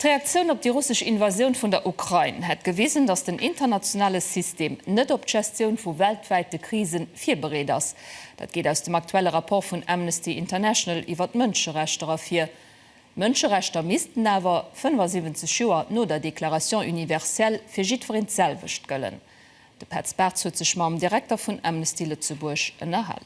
D'Reaktioun op déi russesch Invasioun vun der Ukrain hätt gewisen, datt den internationale System net op d'Gestioun vu weltwäite Krisen virbereet ass. Dat geet aus dem aktuelle Rapport vun Amnesty International iwwer d'Mënscherechter ervir. D'Mënscherechter missten awer, 75 Joer no der Déclaration universelle, fir jiddwereen d'selwecht gëllen. De Petz Bartz huet sech mam Direkter vun Amnesty Lëtzebuerg ënnerhal.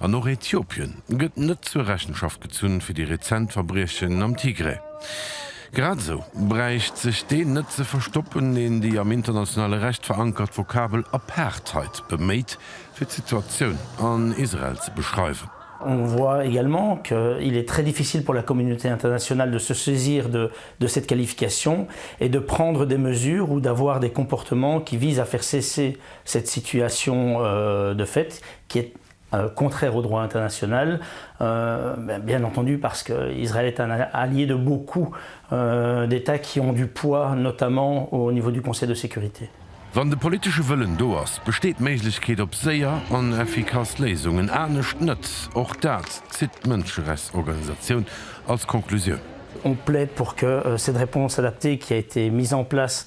An och Äthiopien gëtt net zur Rechenschaft gezunn fir déi rezent Verbriechen am Tigray. Grad esou bräicht sech deen net ze verstoppen, deen déi am internationale Recht verankert Vokabel Apartheid beméit, fir d'Situatioun an Israel ze beschreiwen. On voit également qu'il est très difficile pour la communauté internationale de se saisir de cette qualification et de prendre des mesures ou d'avoir des comportements qui visent à faire cesser Cette situation de fait qui est contraire au droit international, bien entendu parce que Israël est un allié de beaucoup d'Etats qui ont du poids, notamment au niveau du Conseil de sécurité. Wann de politesche Wëllen do ass, besteet d'Méiglechkeet op séier an effikass Léisungen, anescht net. Och dat zitt d'Mënscherechtsorganisatioun als Conclusioun. On plaide pour que cette réponse adaptée qui a été mise en place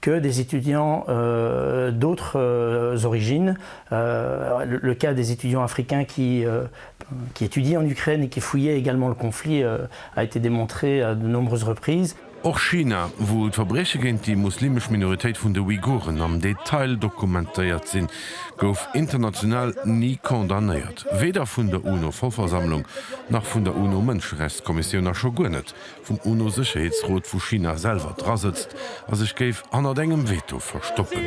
que des étudiants d'autres origines, le cas des étudiants africains qui qui étudient en Ukraine et qui fuyaient également le conflit a été démontré à de nombreuses reprises. Och China, wou d'Verbrieche géint déi muslimesch Minoritéit vun de Uiguren am Detail dokumentéiert sinn, gouf international ni condamnéiert, weder vun der UNO-Vollversammlung nach vun der UNO-Mënscherechtskommissioun a scho guer net vum UNO-Sécherheetsrot vu China selwer dra sëtzt a sech géif hannert engem Veto verstoppen.